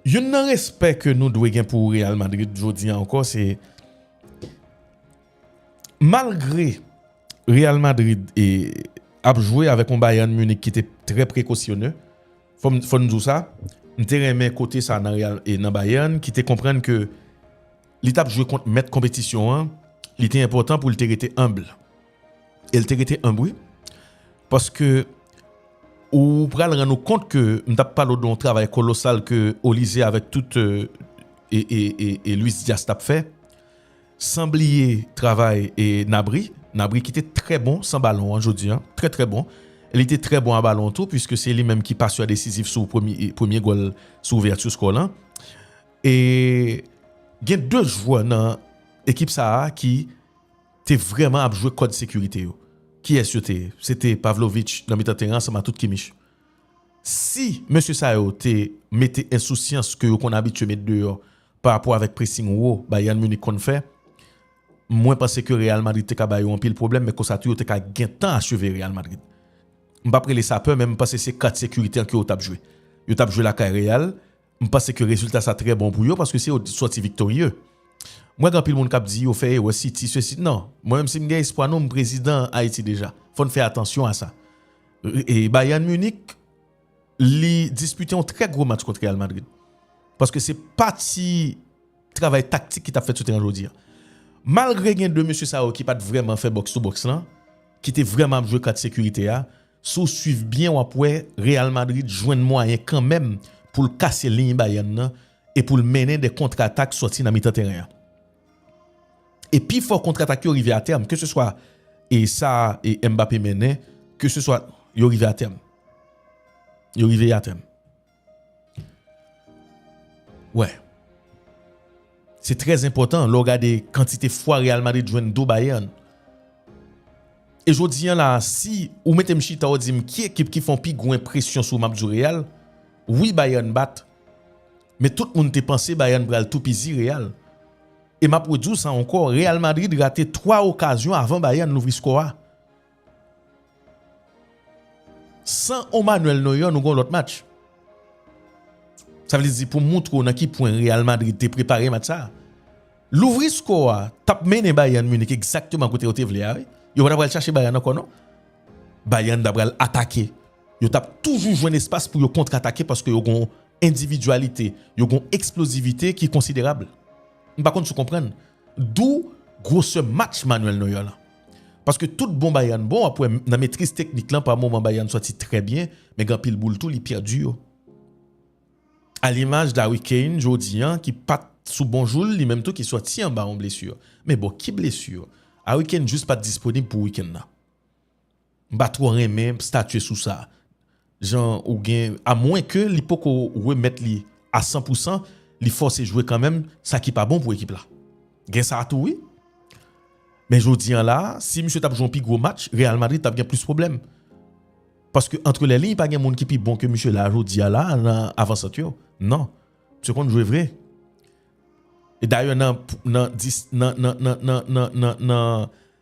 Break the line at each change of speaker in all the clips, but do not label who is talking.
Youn nan respè ke nou dwe gen pou Real Madrid jodi an ankò se malgre Real Madrid ap jwe avèk yon Bayern Munich ki te trè prekosyonè fò m di w sa m te renmen kote sa nan Bayern ki te konprann ke li t ap jwe kont mèt konpetisyon an li te enpòtan pou l te rete humble. E l te rete enb wi. Paske ou pral rann ou kont ke m tap pale w de yon travay kolosal ke Olizye avèk tout e Luis Diaz tap fè. San bliye travay e Nabri. Nabri ki te trè bon san balon an jodi an. Trè trè bon. Li te trè bon a balon tou pwiske se li menm ki pasè desizif sou premye gòl sou ouvèti skò lan. E gen 2 jwè nan ekip sa a ki. te vrèman ap jwe kòd sekirite yo. Kiyès yo te ye? Se te Pavlovic nan mitan teren ansanm a tout Kimmich. Si mesye sa yo te mete ensousyans ke yo konn abitye met deyò pa rapò avèk pressing wo Bayern Munich konn fè, mwen panse ke Real Madrid te ka ba yo anpil pwoblèm men konsa tou yo te ka gentan acheve Real Madrid. M pap rele sa pè men m panse se kat sekirite an ke yo t ap jwe. Yo t ap jwe lakay Real. M panse ke rezilta sa trè bon pou yo paske se yo ki sòti viktorye. Mwen gen anpil moun kap di yo fè erè siti sesi nan. Mwen menm si m gen espwa nou m prezidan Ayiti deja. Fò n fè atansyon a sa. E Bayern Munich li dispite yon trè gwo match kont Real Madrid. Paske se pa ti travay taktik ki tap fèt sou teren jodi a. Malgre gen 2 mesye sa yo ki pat vrèman fè box to box lan, ki te vrèman ap jwe kat sekirite a, Si w swiv byen w ap wè Real Madrid jwenn mwayen kanmenm pou l kase liy Bayern nan e pou l mennen 2 kontratak sòti nan mitan teren an. E pi fò kontratak yo rive atèm, ke se swa e sa e Mbappé mennen, ke se swa yo rive atèm. Yo rive atèm. Wè. Se trè enpòtan lè w gade kantite fwa Real Madrid jwenn do Bayern. E jodi an la a si ou mete m chita ou di m ki ekip ki fè yon pi gwo enpresyon sou ou m ap di w Real. Wi Bayern bat. Men tout moun te panse Bayern pral toupizi Real. E m ap redi w sa ankò Real Madrid rate 3 okazyon avan Bayern louvri skò a. San on Manuel Neuer nou gen on lòt match. Sa vle di pou moutre w nan ki pwen Real Madrid te prepare match sa. Louvri skò a t ap mennen Bayern Munich egzakteman kote yo te vle a wi. Yo pa t ap pral chache Bayern ankò non. Bayern t ap pral atake. Yo t ap toujou jwenn espas pou yo kontratake paske yo gen on endividyalite, yo gen on eksplozivite ki konsiderab. M pa konn si w konprann. Dou gwosè match Manuel Neuer lan. Paske tout bon Bayern bon wap wè nan metriz teknik lan pa moman Bayern sòti trè byen men gen anpil boul tou li pèdi yo. A limaj d'Harry Kane jodi an ki pat sou bon jou l li menm tou ki sòti anba yon blesur. Men bon ki blesur? Harry Kane jus pat disponib pou weekend lan. M pa twò renmen statye sou sa. Jan ou gen a mwen ke li poko remèt li a 100 pou 100, li fòse jwe kanmenm sa ki pa bon pou ekip la. Gen sa tou wi. Men jodi an la, si misye tap jwe yon pi gwo match, Real Madrid tap gen plis pwoblèm. Paske antre lè liy pa gen moun ki pi bon ke misye la jodi a la nan avan sant yo. Non. Misye konn jwe vre. E dayè nan nan nan nan nan nan nan nan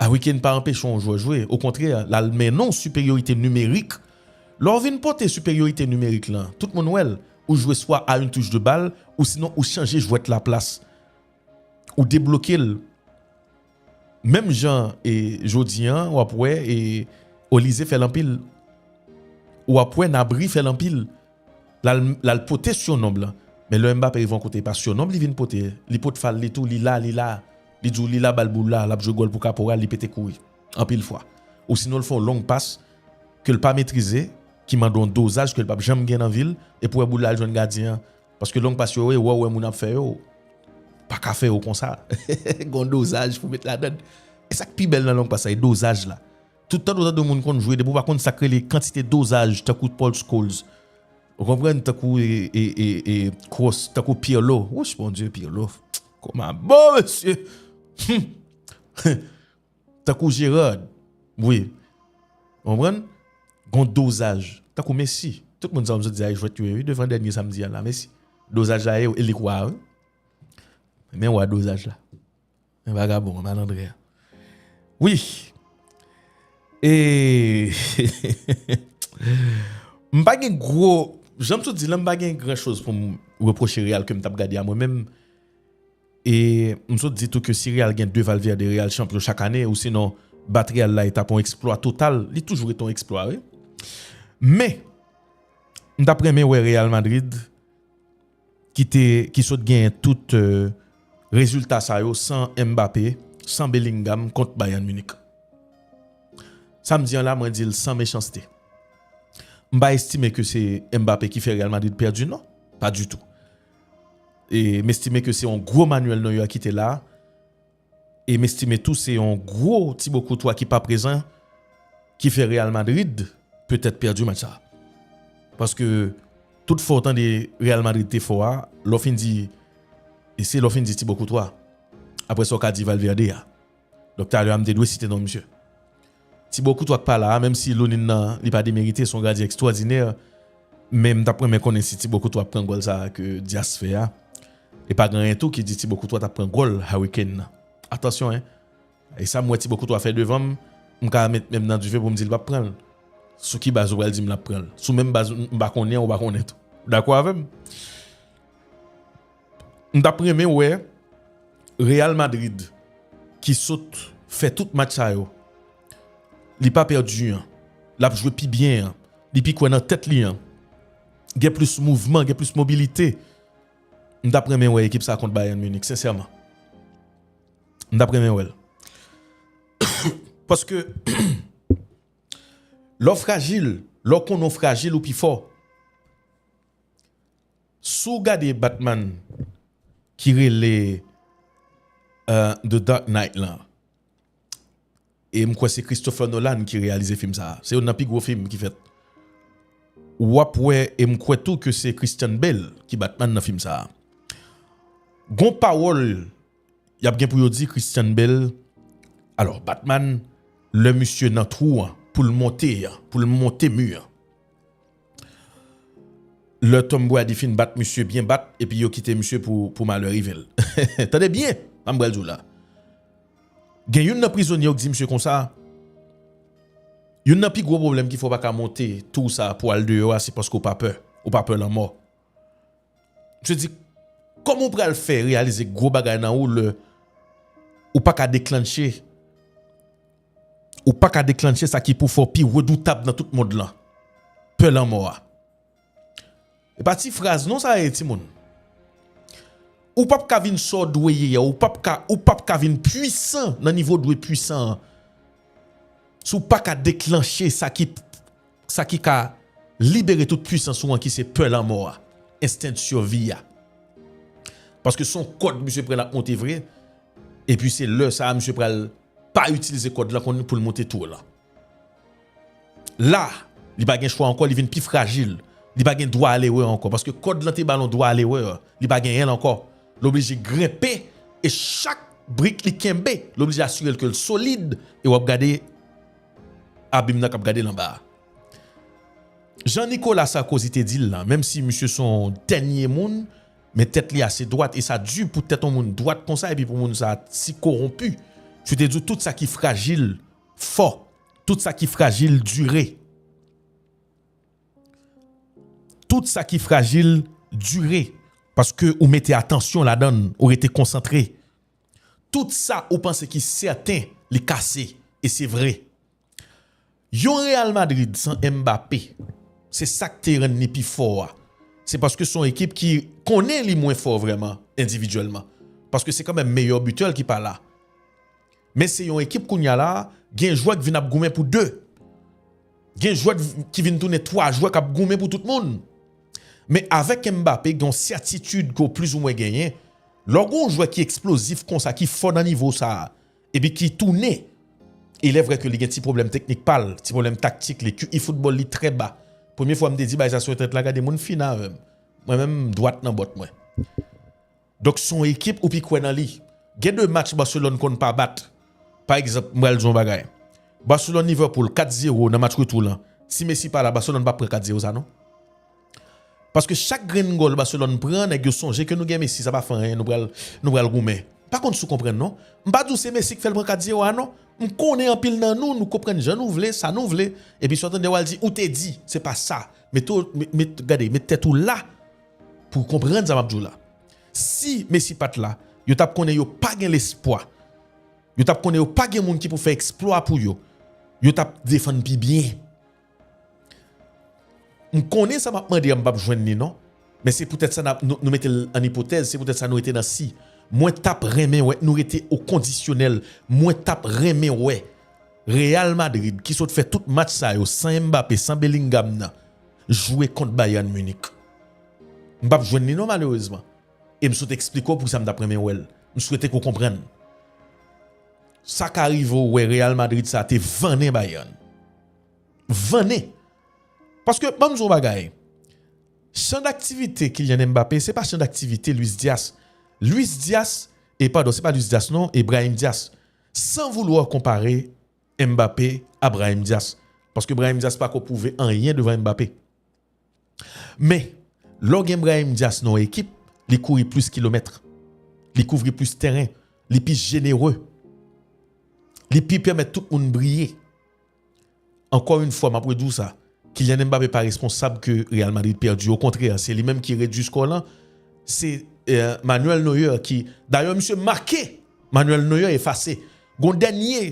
Harry Kane pa anpeche yon jwè jwe, okontrè, l al mennen w siperyorite nimerik. Lè w vin pote siperyorite nimerik lan, tout moun wè l, ou jwe swa a yn touch de bal ousinon ou chanje jwèt la plas. Ou debloke l. Menm jan e jodi an w ap wè e Olise fè l anpil. Ou ap wè Nabri fè l anpil. lal pote siyononb lan men lè Mbappé rive yon kote epa siyononb li vin pote li pot fal li tou li la li la li di w li la bal boul la lap jwe gòl pou kaporal li pete kouri anpil fwa ou sinon l fè yon long pas ke l pa metrize ki mande yon dozaj ke l pap janm gen nan vil epi w wè boul la al jwenn gadyen an paske long pas yo e wè w wè moun ap fè yo paka fè yo konsa gen yon dozaj pou met ladann e sak pi bèl nan long pas la e dozaj la Tout tande w tande moun konn jwe depi w pa konn sak rele kantite dozaj tankou Paul Scholes ou konprann tankou Cross tankou Pirlo wouch bondye Pirlo koma bo mesye humm tankou Gerard wi ou konprann gon dozaj tankou Messi tout moun sa yo m sot di a e jwèt yo ye wi devan dènye samdi a la Messi dozaj la e li k wa wi men wa dozaj la. Men vagabon an malandren an. Wi e m pa gen gwo jan m toujou di lan m pa gen gran choz pou m repwoche Real ke m t ap gade a mwen menm e m toujou di tou ke si Real gen 2 Valverde Real chanpyon chak ane osinon bat Real la e t ap yon eksplwa total li toujou rete yon eksplwa wi men m t ap renmen wè Real Madrid ki te ki sot genyen tout rezilta sa yo san Mbappé, san Bellingham kont Bayern Munich. Sa m di an la mwen di l san mechanste. M pa estime ke se Mbappé ki fè Real Madrid pèdi non, pa ditou. E m estime ke se yon gwo manuèl Neuer kite la. E m estime tou se yon gwo Thibaut Courtois ki pa prezan ki fè Real Madrid petèt pèdi match sa. Paske tout fò w tande Real Madrid te fò a, lè w fin di se lè w fin di Thibaut Courtois. Aprè sa w ka di Valverde a. Donk talè a m te dwe site non misye. Tibo kout wap pala a menm si Lunin nan li pa demerite son gadyen ekstwòdinè men m tap renmen konnen si Tibo Koutwa ap pran gòl sa ke Dias fè a e pa gen anyen tou ki di Tibo Koutwa tap pran gòl Harry Kane nan atansyon hein e sa m wè Tibo Koutwa fè devan m m ka met men m nan dife pou m di l pap pran l sou ki baz ou pral di m lap pran l sou menm baz m pa konnen an ou pa konnen tou ou dakò avè m? M tap renmen wè Real Madrid ki sot fè tout match sa yo li pa pèdi an lap jwe pi byen an li pi kwè nan tèt li an gen plis mouvman gen plis mobilite m tap renmen wè ekip sa kont Bayern Munich sensèman m tap renmen wèl paske lè w frajil lè w konnen w frajil ou pi fò. Si w gade Batman ki rele The Dark Knight lan e m kwè se Christopher Nolan ki reyalize fim sa a, se youn nan pi gwo fim ki fèt. W ap wè e m kwè tou ke se Christian Bale ki Batman nan fim sa a. Gon pawòl y ap gen pou yo di Christian Bale, alò Batman lè misye nan twou an pou l monte an, pou l monte mi an. Lè Tom Brady fin bat misye byen bat epi yo kite misye pou malè rive l. Tande byen sa m pral di w la. Gen youn nan prizonye yo k di misye konsa, Youn nan pi gwo pwoblèm ki fè w pa ka monte tou sa pou w al deyò a se paske w pa pè, ou pa pè lanmò. Misye di, kòman ou pral fè reyalize gwo bagay nan ou lè ou pa ka deklannche, ou pa ka deklannche sa ki pou fè w pi redoutab nan tout mond lan, pè lanmò a. E pa ti fraz non sa ye timoun. Ou pap ka vin sa w dwe ye a, ou pap ka, ou pap ka vin pwisan nan nivo w dwe pwisan an si w pa ka deklannche sa ki Sa ki ka libere tout pwisans ou an ki se pè lanmò a, ensten de survie a. Paske son kòd misye pran lap monte vre, epi se lè sa misye pral pa itilize kòd lan konn poul monte tour lan. La, li pa gen chwa ankò, li vin pi frajil, li pa gen dwa alerè ankò, paske kòd lan te bal on dwa alerè, li pa genyenl ankò, l oblije grenpe, e chak brik li kenbe, l oblije asirel kel solid, e wap gade. Abim nan k ap gade l anba a. Jan Nikola Sarkozy te di l lan, menm si misye s on dènye moun, men tèt li ase dwat, e sa di pou tèt on moun dwat konsa epi pou moun sa a si kowonpi. Misye te di w tout sa ki frajil fò, tout sa ki frajil dire. Tout sa ki frajil dire, paske ou mete atansyon ladan l, ou rete konsantre. Tout sa ou panse ki sèten li kase e se vre. Yon Real Madrid san Mbappé, se sak te rann li pi fò a, se paske son ekip ki konnen li mwen fò vrèman endividyèlman, paske se kanmenm meyè bitè l ki pa la. Men se yon ekip kounya la gen jwè k vin ap goumen pou 2. Gen jwè ki vin tounen 3 jwè k ap goumen pou tout moun. Men avèk Mbappé gen yon sètitid ke w plizoumwen genyen, Lè w gen yon jwè ki eksplozif konsa, ki fò nan nivo sa a, epi ki tounen, ilèvrè ke li gen ti pwoblèm teknik pa l, ti pwoblèm taktik li, QI foutbòl li trè ba. Premye fwa m te di bagay sa sou entènèt la, gade moun fin avè m. Mwen menm, m dwat nan bòt mwen. Donk se yon ekip ou pi kwè nan li. Gen de match Barcelone konn pa bat. Pa egzanp, m pral di w yon bagay. Barcelone-Liverpool, 4 zero nan match retou lan. Si Messi pa la, Barcelone pap pran 4 zero sa non. Paske chak grenn gòl Barcelone pran nèg yo sonje ke nou gen Messi sa pa fè anyen nou pral nou pral goumen. Pa konn si w konprann non. M pa di w se Messi k fè l pran 4 zero a non. M konnen anpil nan nou nou konprann jan nou vle sa nou vle epi sa w tande w al di ou te di se pa sa. Mete w met gade met tèt ou la pou w konprann sa m ap di w la. Si Messi pat la yo tap konnen yo pa gen lespwa. Yo tap konnen yo pa gen moun ki pou fè eksplwa pou yo. Yo tap defann pi byen. M konnen sa m ap mande an m pap jwenn li non, men se poutèt sa nou mete l an ipotèz, se poutèt sa nou rete nan si. Mwen t ap renmen wè nou rete o kondisyonèl, mwen t ap renmen wè Real Madrid ki sot fè tout match sa yo san Mbappé, san Bellingham nan jwe kont Bayern Munich. M pap jwenn li non malerezman e m sot eksplike w poukisa m t ap renmen wè l. M swete ke w konprann. Sa ka rive w wè Real Madrid sa te vannen Bayern. Vannen. Paske banm di w yon bagay. Chan daktivite Kylian Mbappé se pa chan daktivite Luis Diaz. Luis Diaz, e padon se pa Luis Diaz non e Brahim Diaz. San voulwa konpare Mbappé a Brahim Diaz. Paske Brahim Diaz pako pwouve anyen devan Mbappé. Men, lè w gen Brahim Dias nan yon ekip, li kouri plis kilomèt, li kouvri plis tèren, li pi jenere, li pi pèmèt tout moun briye. Ankò yon fwa, m ap redi w sa, Kylian Mbappé pa responsab ke Real Madrid pèdi. Okontrè, se li menm ki redui skò lan. Se Manuel Neuer ki, dayè misye make, Manuel Neuer efase. Gen yon dènye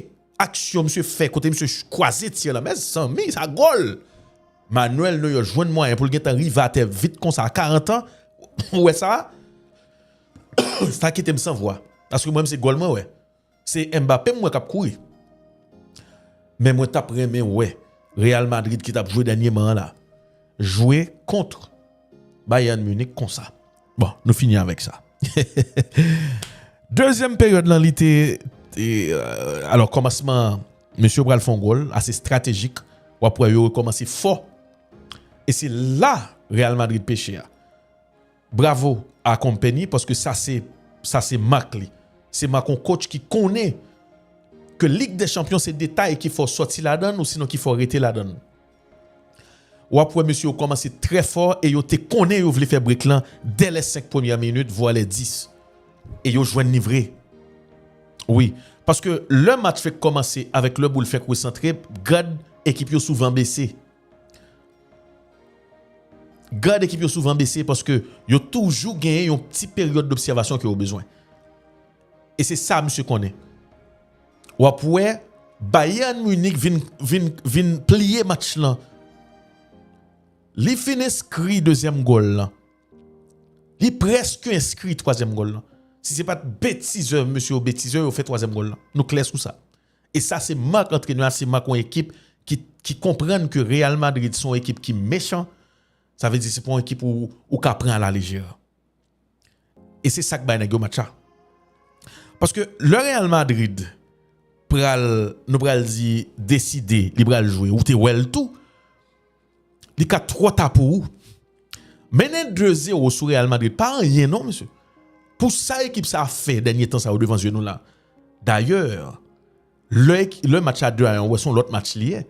aksyon misye fè kote misye kwaze tir la, mezanmi, sa gòl! Manuel Neuer jwenn mwayen pou l gentan rive atè vit konsa a 40 ans ou wè sa sa kite m san vwa paske mwen menm se gòl mwen wè se Mbappé m wè k ap kouri men mwen t ap renmen wè Real Madrid ki t ap jwe dènyeman an la jwe kontr Bayern Munich konsa. Bon, nou fini avèk sa. Dezyèm peryòd lan li te, alò kòmansman mesye yo pral fè yon gòl ase estratejik, w ap wè yo rekòmanse fò e se la Real Madrid peche a. Bravo a Kompany paske sa se, sa se mak li. Se mak yon kotch ki konnen ke Lig dè Chanpyon se detay ki fè w sòti ladan l osinon ki fè w rete ladan l. Wap wè mesye yo kòmanse trè fò e yo te konnen yo vle fè break lan dè lè 5 premyè minit vwa lè 10. E yo jwenn li vre. Wi, paske lè match fèk kòmanse avèk lè boul fèk resantre, gad ekip yo souvan bese. Gad ekip yo souvan bese paske yo toujou genyen yon ti peryòd dobsèvasyon ke yo bezwen. E se sa misye konnen. W ap wè Bayern Munich vin pliye match lan. Li fin enskri dezyèm gòl lan. Li prèske enskri twazyèm gòl lan. Si se pa t betizè mesye yo betize, yo fè twazyèm gòl lan. Nou klè sou sa. E sa se mak antrenè a, se mak yon ekip ki konprann ke Real Madrid se yon ekip ki mechan. Sa vle di se pa yon ekip ou ka pran a la lejè. E se sak bay nèg yo match la. Paske lè Real Madrid pral nou pral di deside li pral jwe ou te wèl tou li ka twò ta pou ou. Mennen 2 zero sou Real Madrid pa anyen non mesye. Pou sa ekip sa fè dènye tan sa yo devan zye nou la. Dayè lè match la 2 a 1 ou wè son lòt match li ye.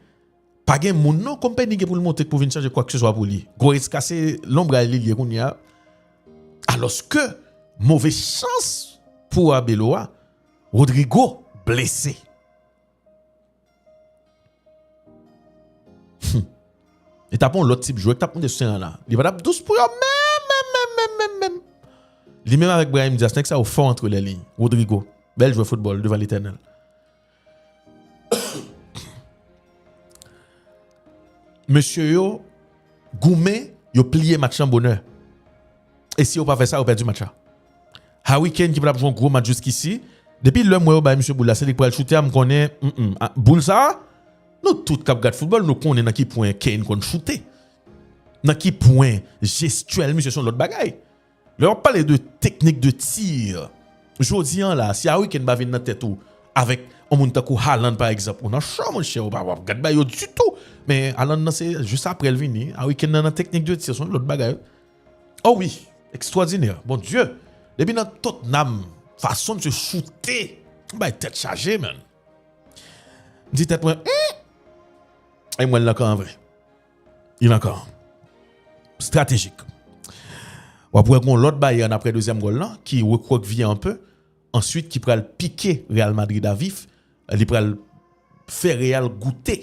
Pa gen moun non konpeni gen pou l monte k pou vin chanje kwakseswa pou li. Gwo Esca se lonbray li ye kounye a. Alòske move chans pou Arbeloa a, Rodrygo blese. Hum! Li t ap yon lòt tip jwè k t ap monte sou teren an la. Li pa t ap dous pou yo menm menm menm menm menm menm. Li menm avèk Brahim Diaz, nèg sa yo fò antre lèliy. Rodrygo, bèl jwè foutbòl devan Letènèl. Mesye yo goumen, yo pliye match lan bonè. E si yo pa fè sa, yo pèdi match la. Harry Kane ki pral jwe yon gwo match jiskisi, depi lè m wè yo bay misye boul la, se li k pral choute a, m konnen, boul sa a, nou tout k ap gad foutbòl, nou konnen nan ki pwen Kane konn choute. Nan ki pwen jestyèl misye se yon lòt bagay. Lè wap pale de teknik de tir, jodi an la si Harry Kane pa vin nan tèt ou avèk yon moun tankou Haaland pa egzanp ou nan cho monchè ou pa wap gad ba yo ditou men Haaland nan se jis aprè l vini Harry Kane nan nan teknik de tir se yon lòt bagay o wi ekstwòdinè bon Dye depi nan Tottenham fason misye choute m bay tèt chaje menn m di tèt mwen humm e m wè l nan kan an vre. Yn ankò stratejik. Wap wè gon lòt Bayern aprè dezyèm gòl lan ki rekwòkvye anpe answit ki pral pike Real Madrid a vif, li pral fè Real goute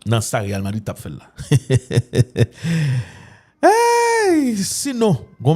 nan sa Real Madrid tap fèl la. Eyy sinon gon bagay.